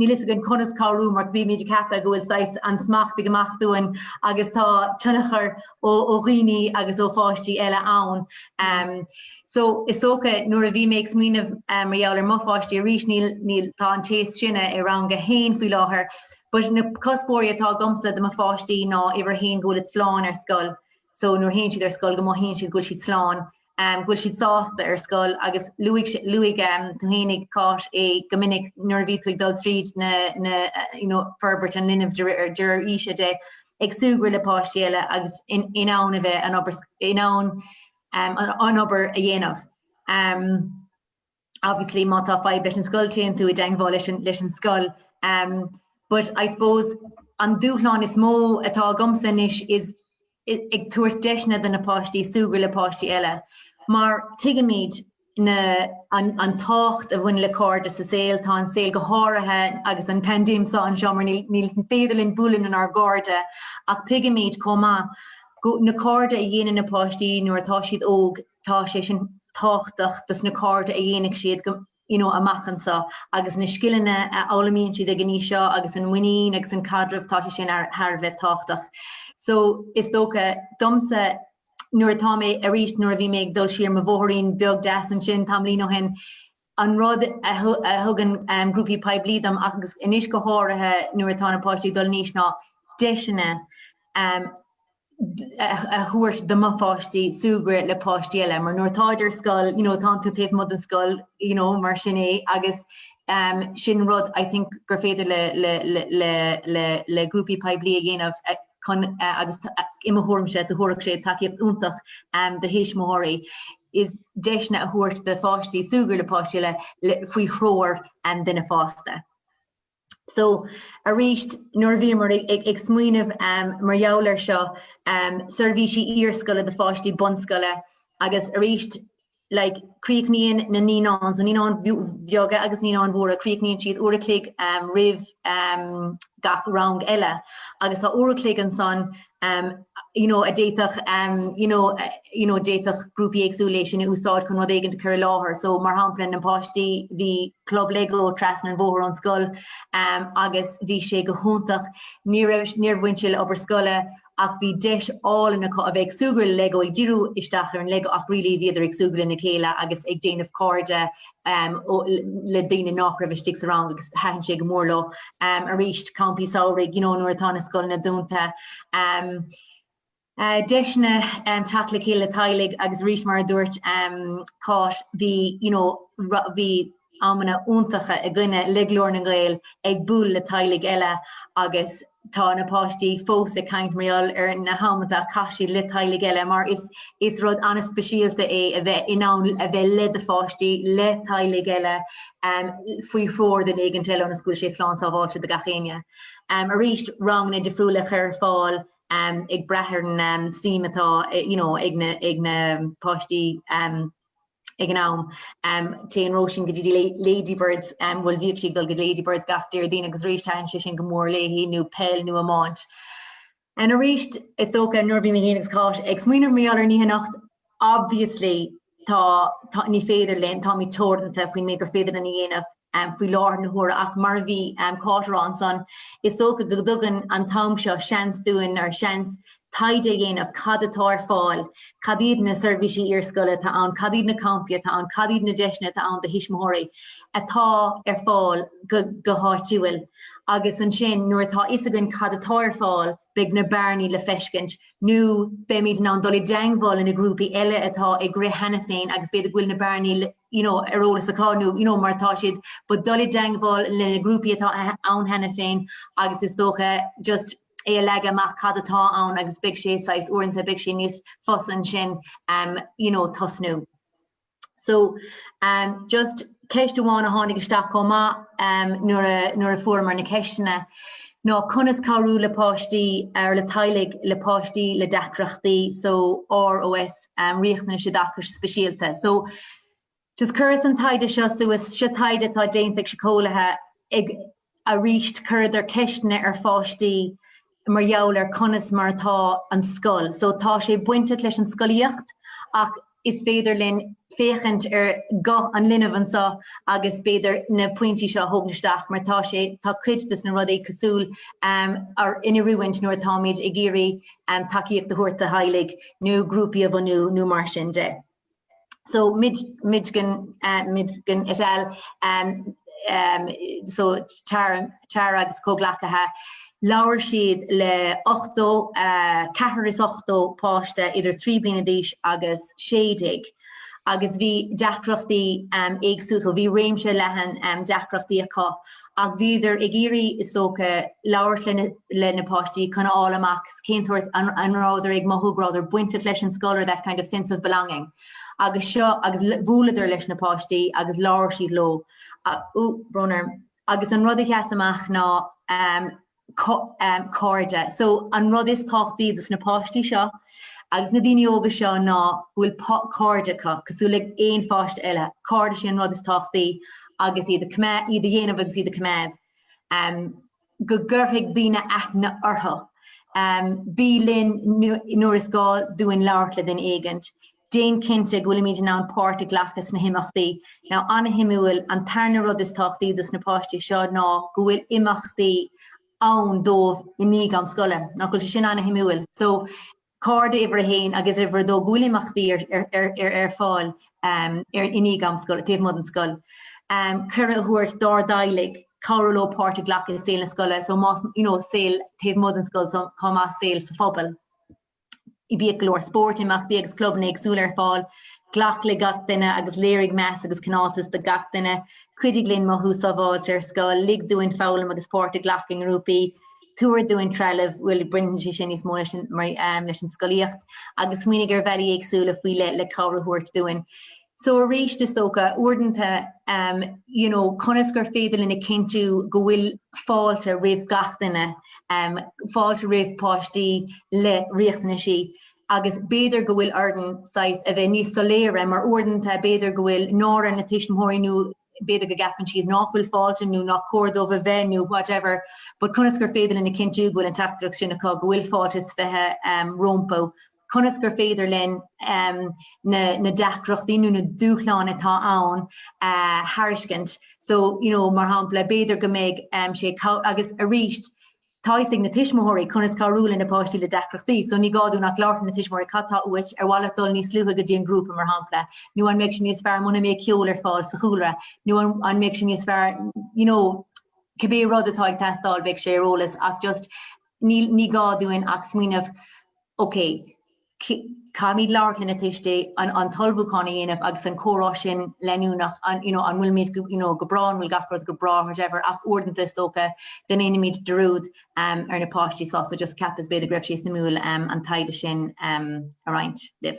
Níl fhios againn conas cabhrú mar bhímid ag ceapadh go bhfuil saghas an smacht ag imeacht dúinn agus tá tionchar ó dhaoine agus ó pháistí eile ann. So is dócha nuair a bhí mé ag smaoineamh mar gheall ar mo pháistí arís níl tá an té is sine i rang a haon faoi láthair but na cuspóirí atá agamsa do mo pháistí ná uimhir a haon go bhfuil iad slán ar scoil so nuair théann siad ar scoil go mothaíonn siad go bhfuil siad slán go bhfuil siad sásta ar scoil agus luaigh luaigh do thánaig Cáit é go minic nuair a bhí tú ag dul tríd na na you know forbairt an linbh de réir de réir aoise de ag súgradh le páistí eile agus in in ann a bheith an obair in ann um, an, an obair a dhéanamh. Um, Obviously má tá fadhb leis an scoil téann tú i dteangmháil leis an leis an scoil umm but I suppose an dúshlán is mó atá agamsa anois is ag tabhairt deiseanna do na páistí súgradh le páistí eile mar tuigimid na an an tábhacht a bhaineann le cairde sa saol tá an saol go háirithe agus an pandéim so anseo mar níl níl féidir linn bualadh lenár gcairde ach tuigimid chomh maith go na cairde a dhéanann na páistí nuair atá siad óg tá sé sin tábhachtach dos na cairde a dhéanfaidh siad you know amach anseo agus na scileanna a fhoghlaimíonn siad ag an aois seo agus an mhuinín agus an caidreamh tá sé sin thar a bheith tábhachtach. So is dócha domsa nuair atá mé arís nuair a bhí mé ag dul siar mo bhóthairín beag deas ansin tamlín ó shin an rud a thugann grúpaí poiblí dom agus anois go háirithe nuair atá na páistí ag dul in aois ná deiseanna a thabhairt do mo pháistí súgradh le páistí eile mar nuair atáid ar scoil you know tá tú taobh amuigh den scoil you know mar sin é agus um sin rud I think gur féidir le le le le le grúpaí poiblí a dhéanamh uh chun uh agus i mo thuairimse do thabharfadh sé tacaíocht iontach um do thuismitheoirí. is deiseanna a thabhairt do pháistí súgradh le páistí eile faoi threoir duine fásta. So, arís, nuair a bhíomar ag smaoineamh mar gheall air seo, seirbhísí iarscoile do pháistí bunscoile agus arís like críochnaíonn na naíonáin, so naíonáin bheaga agus naíonáin mhóra, críochnaíonn siad uair a chloig roimh. gach rang eile agus tá uair a chloig ansan you know a d'fhéadfadh you know you know d'fhéadfadh grúpaí éagsúla é sin a úsáid chun rud éigin a chur i láthair so mar shampla na páistí bhí club lego trasna an bhóthair ón scoil um, agus bhí sé go hiontach ní raibh níor bhain sé le obair scoile ach bhí deis álainn acu a bheith ag súgradh le Lego, ag díriú isteach ar an Lego ach really bhíodar ag súgradh lena chéile agus ag déanamh cairde le daoine nách raibh istigh sa rang agus thaitin sé go mór leo. Arís, campaí samhraidh you know nuair atá na scoileanna dúnta, deiseanna teacht le chéile le teaghlaigh agus arís mar a dúirt Cáit bhí you know bhí amanna iontacha againne le Glór na nGael ag bualadh le teaghlaigh eile agus tá na páistí fós ag caint mar gheall ar na hamanta a chaith siad le teaghlaigh eile mar is is rud ana-speisialta é a bheith in ann a bheith le do pháistí, le teaghlaigh eile, faoi threoir duine éigin eile ionas go bhfuil sé slán sábháilte do gach éinne. Arís, ranganna difriúla a chur ar fáil ag brath ar an suim atá you know ag na páistí. ag an am. Téann Róisín go dtí Ladybirds, bhuel bhíodh sí ag dul go dtí Ladybirds gach Déardaoin agus arís thaitin sé sin go mór léi, nó peil nó iomáint. And arís is dócha nuair a bhí mé féin agus Cáit ag smaoineamh mar gheall ar an oíche anocht, obviously tá, tá, ní féidir linn, táimid teoranta faoin méid gur féidir linn a dhéanamh, faoi láthair na huaire ach mar a bhí Cáit ag rá ansan, is dócha go dtugann an t-am seo seans dúinn, or seans taighde a dhéanamh, cad atá ar fáil, cad iad na seirbhísí iarscoile atá ann, cad iad na campaí atá ann, cad iad na deiseanna atá ann do thuismitheoirí atá ar fáil go háitiúil. Agus ansin nuair atá fhios againn cad atá ar fáil, beidh na bearnaí le feiscint nó beimid in ann dul i dteangmháil le na grúpaí eile atá ag rith cheana féin agus b'fhéidir go bhfuil na bearnaí le you know, ar eolas acu nó, you know, mar tá siad ba dul i dteangmháil le na grúpaí atá ann cheana féin agus is dócha just é a leagadh amach cad atá ann agus beidh sé saghas uaireanta beidh sé níos fusa ansin um you know, tosnú. So um just ceist amháin a tháinig isteach chomh maith um nuair a nuair a fuaireamar na ceisteanna ná conas cabhrú le páistí or le teaghlaigh le páistí le deacrachtaí so ROS um Riachtanais Oideachais Speisialta. So just chuireas an taighde seo suas, seo taighde atá déanta ag siceolaithe ag arís chuireadar ceisteanna ar pháistí mar gheall ar conas mar atá an scoil. So tá sé bainteach leis an scolaíocht ach is féidir linn féachaint ar ghuth an linbh anseo agus b'fhéidir na pointí seo a thógaint isteach mar tá sé tá cuid dos na rudaí cosúil um or in oiriúint nuair atáimid ag iarraidh tacaíocht a thabhairt do theaghlaigh nó grúpaí a bhunú nó mar sin de. So Midgen, Midgen et al. Um, um, so Tara, Tara agus comhghleacaithe, labhair siad le 80, uh, 480 páiste idir 3 bliana d'aois agus 16 agus bhí deacrachtaí um, éagsúla, so bhí réimse leathan um, deacrachtaí acu ach bhíodar ag iarraidh, is dócha, labhairt le na páistí chun a fháil amach cén sórt, an rabhadar ag mothú go rabhadar bainteach leis an scoil or that kind of sense of belonging agus seo, agus bhuaileadar leis na páistí agus labhair siad leo, ú, brón orm, agus an rud a sheas amach ná. cairde. So an rud is tábhachtaí dos na páistí seo agus na daoine óga seo ná go bhfuil cairde acu, cosúil le aon pháiste eile. Cairde, sin an rud is tábhachtaí agus iad a coimeád, iad a dhéanamh agus iad a coimeád. Go gcuirfidh daoine aithne orthu. Bí linn nuair is gá dúinn labhairt le duine éigint. Déan cinnte go bhfuilimid in ann páirt a ghlacadh sna himeachtaí. Now, an-shuimiúil, an tarna rud is tábhachtaí dos na páistí seo ná go bhfuil imeachtaí ann dóibh i ndiaidh am scoile. Nach bhfuil sé sin an-shuimiúil? So, cairde uimhir a haon agus uimhir a dó, go bhfuil imeachtaí ar fáil i ndiaidh am scoile, taobh amuigh den scoil. Cuireadh a thabhairt dár dteaghlaigh cabhrú leo páirt a ghlacadh i saol na scoile, so, you know, saol taobh amuigh den scoil chomh maith, saol sa phobal. Bíodh go leor spóirt, imeachtaí agus clubanna éagsúla ar fáil. Glac le gach duine agus léirigh meas agus cineáltas do gach duine. Cuidigh linn mothú sábháilte ar scoil. Lig dúinn foghlaim agus páirt a ghlacadh i ngrúpaí. Tabhair dúinn trealamh, bhuel, baineann sé sin níos mó leis an scolaíocht, agus smaoinigh ar bhealaí éagsúla faoi le cabhair a thabhairt dúinn. So aríst is dócha, uaireanta, you know, conas gur féidir linn a chinntiú go bhfuil fáilte roimh gach duine, fáilte roimh páistí le riachtanaisí agus b'fhéidir go bhfuil orainn saghas a bheith níos soiléire mar uaireanta b'fhéidir go bhfuil náire ar na tuismitheoirí nó b'fhéidir go gceapann siad nach bhfuil fáilte nó nach cóir dóibh a bheith nó whatever but conas gur féidir linn a chinntiú go bhfuil an teachtaireacht sin acu go bhfuil fáilte is fiche rompu conas gur féidir linn na deacrachtaí nó na dúshláin atá ann a thuiscint so you know mar shampla b'fhéidir go mbeidh sé agus arís tá fhios ag na tuismitheoirí conas cabhrú le na páistí le deacrachtaí so ní gá dúinn ach labhairt le na tuismitheoirí cad tá uait ar mhaith leat dul níos luaithe go dtí an grúpa mar shampla nó an mbeidh sé níos fearr muna mbeidh ceol ar fáil sa chúlra nó an mbeidh sé níos fearr you know cibé rud atá ag teastáil beidh sé ar eolas ach just Ní gá dúinn ach smaoineamh, OK, caithfimid labhairt le na tuistí, an t-ullmhúchán a dhéanamh agus an comhrá sin leanúnach, an, you know, an bhfuil muid, you know, go breá, an bhfuil gach rud go breá, whatever, ach uaireanta is dócha go ndéanaimid dearúd ar na páistí, so, so just cheapas b'fhéidir go raibh sé suimiúil an taighde sin a roinnt libh.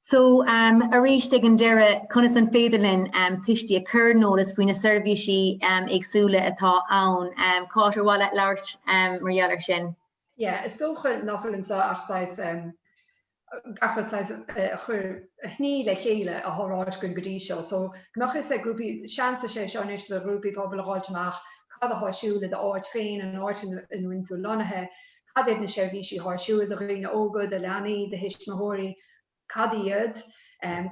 So, um, arís ag an deireadh, conas an féidir linn um, tuistí a chur in eolas faoi na seirbhísí um, éagsúla atá ann? Um, Cáit, ar mhaith leat labhairt um, mar gheall ar sin? Yeah, is dócha nach bhfuil anseo ach saghas um, ach saghas uh, achoimre a shní le chéile ar a bhfuil ráite againn go dtí seo. So, go mbeadh fhios ag grúpaí, seans is é seo anois do ghrúpaí pobail a fháilt amach cad atá ar siúl i d'áit féin, an áit ina bhfuil tú lonnaithe, Cad iad na seirbhísí atá i siúl do dhaoine óga, do leanaí, do thuismitheoirí? Cad iad?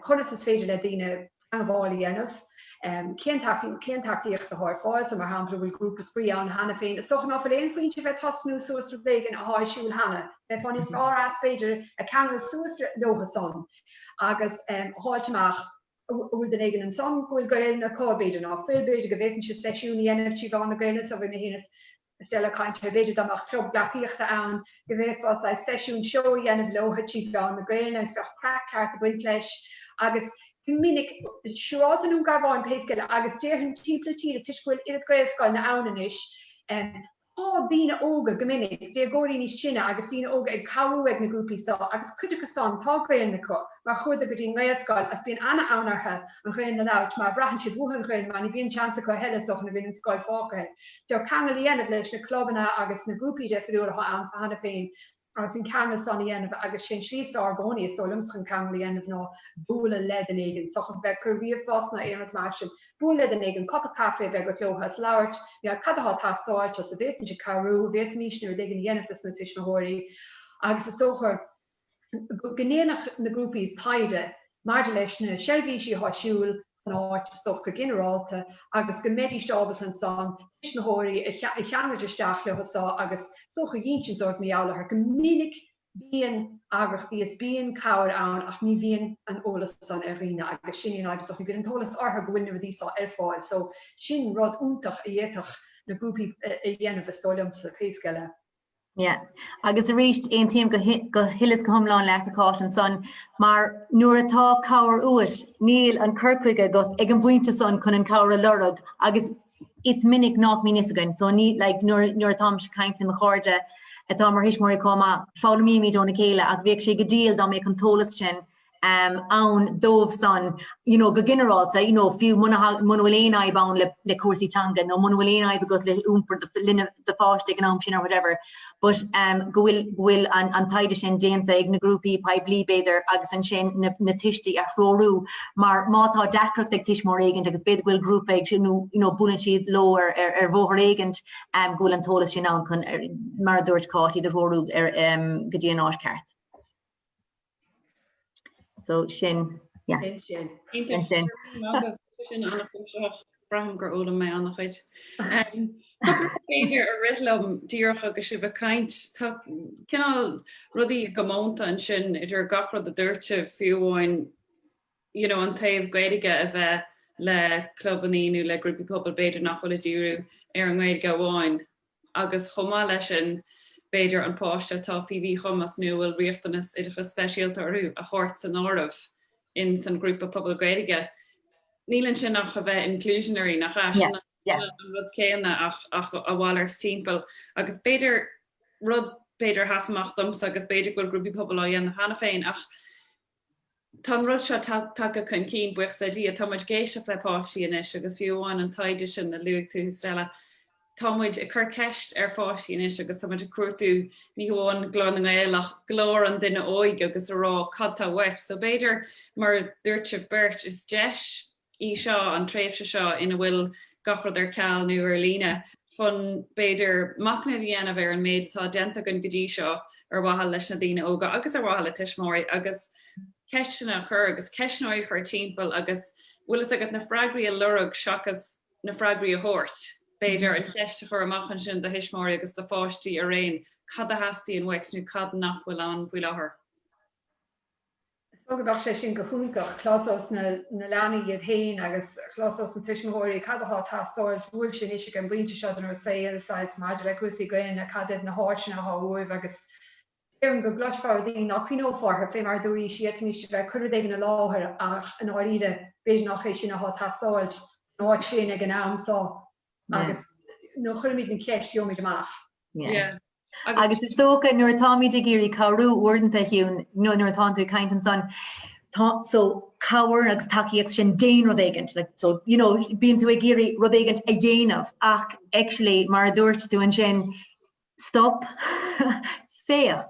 Conas is féidir le daoine teagmháil a dhéanamh? Cén tacaíocht atá ar fáil? So, mar shampla, bhfuil grúpa spraoi ann cheana féin? Is dócha ná fuil aon phointe a bheith tosnú suas rud éigin atá i siúl cheana. Bheifeá níos fearr as, b'fhéidir, ag ceangal suas leotha san agus a fháilt amach an bhfuil duine éigin ansan go bhfuil Gaolainn acu, b'fhéidir ná fuil, b'fhéidir go bhféadfainnse seisiún a dhéanamh trí mheán na Gaolainne so bheidh mé féinig A bheith ag caint ar b'fhéidir dá mbeadh club gleacaíochta ann, go bhféadfá saghas seisiún seo a dhéanamh leo tríd mheán na Gaelainne agus bheadh craic ceart ag baint leis agus go minic, siúrálta i nDún Garbhán, pé scéal, agus déarfainn timpeall na tíre toisc go bhfuil oiread Gaelscoileanna ann anois, tá daoine óga, go minic, déagóirí níos sine agus daoine óga ag cabhrú ag na grúpaí seo agus cuid acu san tá Gaelainn acu mar chuadar go dtí an nGaelscoil agus bíonn ana-fhonn orthu an Ghaelainn a labhairt mar braitheann siad uathu an Ghaelainn mar ní bhíonn seans acu a thuilleadh is dócha nuair a bhíonn an scoil fágtha do cheangal a dhéanamh leis na clubanna agus na grúpaí difriúla atá ann cheana féin agus an ceangal san a dhéanamh agus sé'n slí is fearr i gcónaí, is dóigh liomsa, chun ceangal a dhéanamh ná bualadh le duine éigin, seachas a bheith ag cur ríomhphost ná aon rud mar sin. Buail le duine éigin, cupa caife a bheith agat leotha is labhairt, n'fheadar cad atá ag teastáilt, agus an bhféadfainnse cabhrú, bhféadfaimísne rud éigin a dhéanamh dos na tuismitheoirí agus is dócha go go ndéanfadh na grúpaí taighde maidir leis na seirbhísí atá i siúl san áit, is dócha go ginearálta, agus go mbeidís ábalta ansan tuismitheoirí a cheangaint isteach leo is dócha a dh'ínsint dóibh mar gheall orthu. Go minic bíonn eagrachtaí is bíonn cabhair ann ach ní bhíonn an eolas san ar dhaoine agus sin í an fhadhb, is dócha. Ní bhíonn an t-eolas orthu go bhfuil na rudaí so ar fáil so sin rud iontach a d'fhéadfadh na grúpaí a dhéanamh is dóigh liomsa. Pé scéal é. Yeah. Agus arís, aontaím go huile is go hiomlán leat a Cháit ansan mar nuair atá cabhair uait, níl an cur chuige agat ag an bpointe san chun an cabhair a lorg agus is minic nach mbíonn fhios againn. So ní like nuair nuair atá mise ag caint le mo chairde atá mar thuismitheoirí chomh maith, foghlaimímid óna chéile ach bheadh sé go diail dá mbeadh an t-eolas sin ann dóibh san you know go ginearálta you know fiú muna muna bhfuil aon fhadhb ann le le cúrsaí teanga nó muna bhfuil aon fhadhb agat le iompar do linbh do pháiste ag an am sin or whatever but um go bhfuil go bhfuil an an taighde sin déanta ag na grúpaí pobail b'fhéidir agus ansin na na tuistí a threorú mar má tá deacracht ag tuismitheoir éigint agus b'fhéidir go bhfuil grúpa acu nó you know buaileann siad leo ar ar ar bhóthar éigint um go bhfuil an t-eolas sin ann chun mar a dúirt Cáit iad a threorú ar um go dtí an áit ceart. So sin, yeah. Sin sin. Sin sin. Sin an chuimseach. Braithim gur fhoghlaim mé an-chuid. Cupla rud b'fhéidir a rith liom díreach agus sibh ag caint. Tá cineál rudaí i gcomónta ansin idir gach rud a dúirt sibh, fiú amháin you know an taobh Gaeilge a bheith le clubanna nó le grúpaí pobail b'fhéidir nach bhfuil ag díriú ar an nGaeilge amháin. agus chomh maith leis sin, b'fhéidir, an páiste atá faoi mhíchumas nó a bhfuil riachtanas oideachais speisialta orthu a thabhairt san áireamh in san ghrúpa pobail Gaeilge. Níl ansin ach a bheith inclusionary, nach ea? Sin an rud céanna ach a mhalairt timpeall. Agus b'fhéidir rud, b'fhéidir a sheas amach domsa, agus b'fhéidir go bhfuil grúpaí pobail á dhéanamh cheana féin, ach. Tá an rud seo tagtha chun cinn, buíochas le Dia. Tá muid ag éisteacht le páistí anois agus fiú amháin an taighde sin a luaigh tú, Stella, tá muid ag cur ceist ar pháistí anois agus tá muid ag cuardú ní hamháin glór na nGael ach glór an duine óig agus a rá cad tá uait. So b'fhéidir, mar a dúirt sibh beirt, is deis í seo, an tréimhse seo ina bhfuil gach rud ar ceal nó ar líne, chun, b'fhéidir, machnamh a dhéanamh ar an méid atá déanta againn go dtí seo ar mhaithe leis na daoine óga agus ar mhaithe le tuismitheoirí, agus ceisteanna a chur agus ceistneoirí a chur timpeall agus, bhfuil fhios agat, na freagraí a lorg seachas na freagraí a thabhairt. B'fhéidir, an cheist a chur amach ansin do thuismitheoirí agus do pháistí araon, cad a theastaíonn uait nó cad nach bhfuil ann faoi láthair? Is dócha go mbeadh sé sin go hiontach, cloisfeadh na leanaí iad féin agus cloisfeadh na tuismitheoirí cad atá ag teastáil uaibhse anois ag an bpointe seo den saol, saghas, maidir le cúrsaí Gaelainne, cad iad na háiseanna atá uaibh agus déarfainn go gcloisfeá rudaí ná cuimhneofá orthu, fé mar a dúraís, d'fhéadfaimís a bheith ag cur rud éigin ina láthair ach i ndáiríre b'fhéidir nach é sin atá ag teastáil san áit sin ag an am seo agus nuair a chuirimid an cheist gheobhaimid amach. Agus is dócha nuair atáimid ag iarraidh cabhrú uaireanta you know nuair atá tú ag caint ansan, so cabhair agus tacaíocht sin déan rud éigint, like so you know bíonn tú ag iarraidh rud éigint a dhéanamh ach actually mar a dúirt tú ansin stop, féach.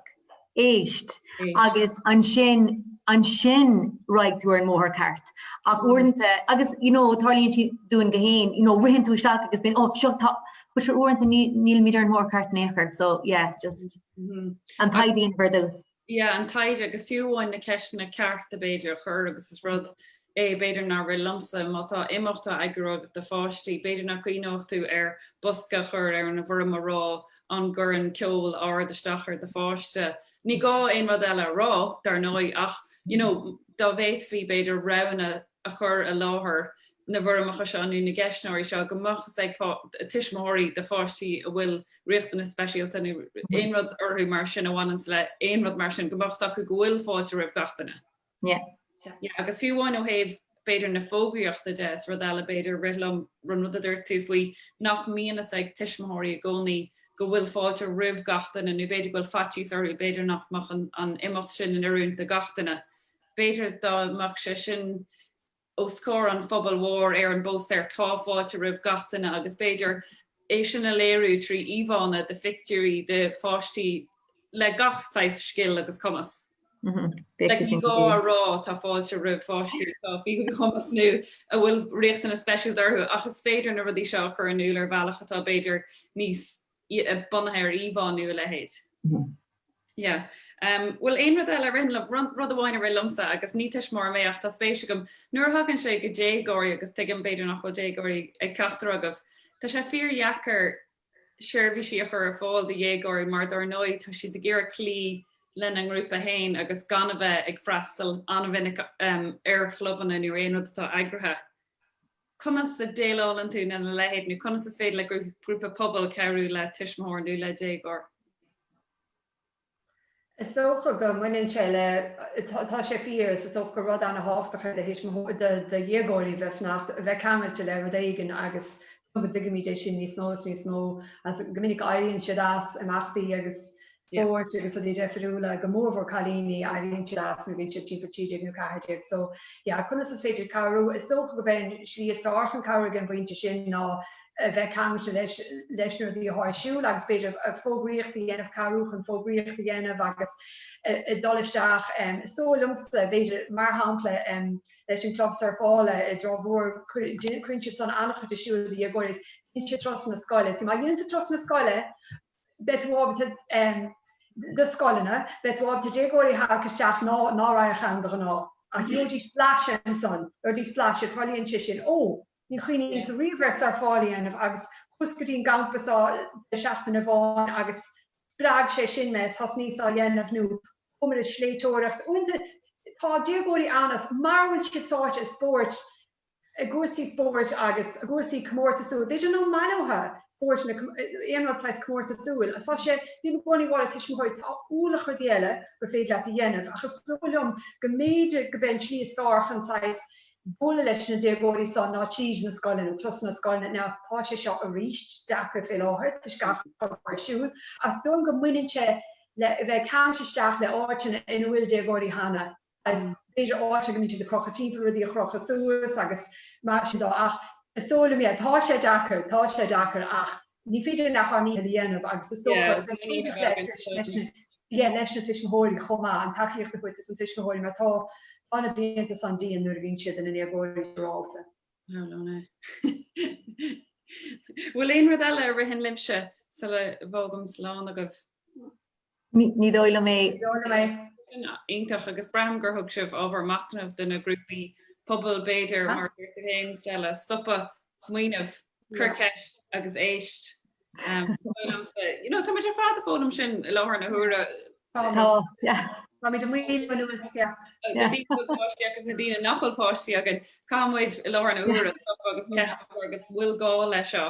Éist, agus ansin, ansin raghaidh tú ar an mbóthar ceart. Ach uaireanta, agus, you know, tarlaíonn sé dúinn go léir, you know, ritheann tú isteach agus bíonn, oh, seo, tá, but sure uaireanta ní, nílimid ar an mbóthar ceart in aon chor, so, yeah, just an taighde ar dtús. Yeah, an taighde, agus fiú amháin na ceisteanna cearta, b'fhéidir, a chur agus is rud é, b'fhéidir a rith liomsa, má tá imeacht á eagrú agat do pháistí, b'fhéidir nach gcuimhneodh tú ar bosca a chur ar an bhfoirm a rá an gcuireann ceol ard isteach ar do pháiste. Ní gá aon rud eile a rá, dar ndóigh, ach you know dá bhféadfaí, b'fhéidir, roghanna a chur i láthair na bhfoirmeacha seo nó na gceistneoirí seo go mbeadh fhios ag tuismitheoirí do pháistí a bhfuil riachtanas speisialta nó aon rud orthu mar sin a bhaineanns le aon rud mar sin go mbeadh fhios acu go bhfuil fáilte roimh gach duine. Yeah, agus fiú amháin ó thaobh b'fhéidir na fógraíochta de, is rud eile b'fhéidir, rith liom an rud a dúirt tú faoi nach mbíonn fhios ag tuismitheoirí i gcónaí go bhfuil fáilte roimh gach duine nó b'fhéidir go bhfuil faitíos orthu b'fhéidir nach mbeadh an imeacht sin in oiriúint do gach duine. B'fhéidir dá mbeadh sé sin, os comhair an phobail mhóir ar an bpóstaer Tá fáilte roimh gach duine agus b'fhéidir é sin a léiriú trí íomhánna de phictiúirí de pháistí le gach saghas scil agus cumas. B'fhéidir, ní gá a rá tá fáilte roimh pháistí atá faoi mhíchumas nó a bhfuil riachtanas speisialta orthu ach is féidir na rudaí seo a chur in iúl ar bhealach atá b'fhéidir níos bunaithe ar íomhá nó a leithéid. Yeah. Em, bhuel aon rud eile a ritheann liom, rud, rud amháin a rith liomsa agus ní tuismitheoir mé ach tá spéis agam, nuair a thagann sé go déagóirí agus tuigim b'fhéidir nach bhfuil déagóirí ag ceachtar agaibh, tá sé fíor dheacair seirbhísí a chur ar fáil do dhéagóirí mar dar ndóigh tá siad ag iarraidh cloí lena ngrúpa féin agus gan a bheith ag freastal an-mhinic, em, ar chlubanna nó aon rud atá eagraithe. Conas a dhéileálann tú lena leithéid, nó conas is féidir le grúpa pobail cabhrú le tuismitheoir nó le déagóir? Is dócha go mbaineann sé le, tá sé fíor, is dócha gur rud an-tábhachtach é do thuismitheoirí, do dhéagóirí bheith fanacht, bheith ceangailte le rud éigin agus go dtuigimid é sin níos mó is níos mó. Go minic éiríonn siad as imeachtaí agus spóirt agus rudaí deifiriúla, go mórmhór cailíní, éiríonn siad as nuair a bhíonn siad timpeall 13 nó 14 so yeah conas is féidir cabhrú? Is dócha gurb é an slí is fearr chun cabhrú ag an bpointe sin ná a bheith ceangailte leis, leis na rudaí atá ar siúl agus b'fhéidir fógraíocht a dhéanamh, cabhrú chun fógraíocht a dhéanamh agus a dhul isteach em is dóigh liomsa b'fhéidir mar shampla em leis an club surfála i dTrá Mhór cuireann siad san an-chuid ar siúl do dhéagóirí is bíonn siad trasna na scoile so má dhéanann tú trasna na scoile beidh tú ábalta, do scoileanna, beidh tú ábalta déagóirí a tharrac isteach ná ná raghadh ann de ghnáth. Ach gheobhaidís blaiseadh ansan, gheobhaidís blaiseadh, tarlaíonn sé sin. Ó, ní chuimhníos-sa riamh ar surfáil a dhéanamh agus chuas go dtí an gcampa san deireadh seachtaine amháin agus spreag sé sin mé, is thosnaíos á dhéanamh nó chuamar ag sléibhteoireacht. Uaireanta tá déagóirí ann is mara bhfuil siad sáite i spóirt, i gcúrsaí spóirt agus i gcúrsaí comórtasúil, b'fhéidir ná maith leo spóirt ná aon rud saghas comórtasúil, tá sé, bím i gcónaí ag rá le tuismitheoirí tá ualach rudaí eile gur féidir leat a dhéanamh ach is dóigh liom go mb'fhéidir go b'é an tslí is fearr chun saghas bualadh leis na déagóirí san ná tríd na scoileanna, tosnú sna scoileanna now tá sé seo arís deacair fé láthair toisc gach rud atá ar siúl ach is dóigh liom go mbaineann sé le a bheith ceangailte isteach le áiteanna ina bhfuil déagóirí cheana. agus b'fhéidir áit a mbíonn siad ag crochadh timpeall rudaí a chrochadh suas agus mar sin dó ach is dóigh liom, yeah, tá sé deacair, tá sé deacair ach ní féidir linn ach ár ndícheall a dhéanamh agus is dócha a bheith bainteach leis, leis na, yeah, leis na tuismitheoirí chomh maith, an tacaíocht a thabhairt dos na tuismitheoirí mar tá, tá na blianta san dian nuair a bhíonn siad ina ndéagóirí siúrálta. Bhfuil aon rud eile a ritheann libhse sula bhfágaimid slán agaibh? Ní dóigh liom é. Sin iontach agus braithim gur thug sibh ábhar machnaimh do na grúpaí pobail b'fhéidir, mar a dúirt tú féin Stella, stopadh, smaoineamh, cuir ceist agus éist. Tá súil agamsa, you know, tá muid ar fad ag foghlaim sin i láthair na huaire. Tá, yeah. Tá muid ag smaoineamh an uair seo. Na daoine a bhfuil páistí acu is na daoine nach bhfuil páistí againn, caithfidh muid i láthair na huaire stopadh agus ceist a chur agus bhfuil gá leis seo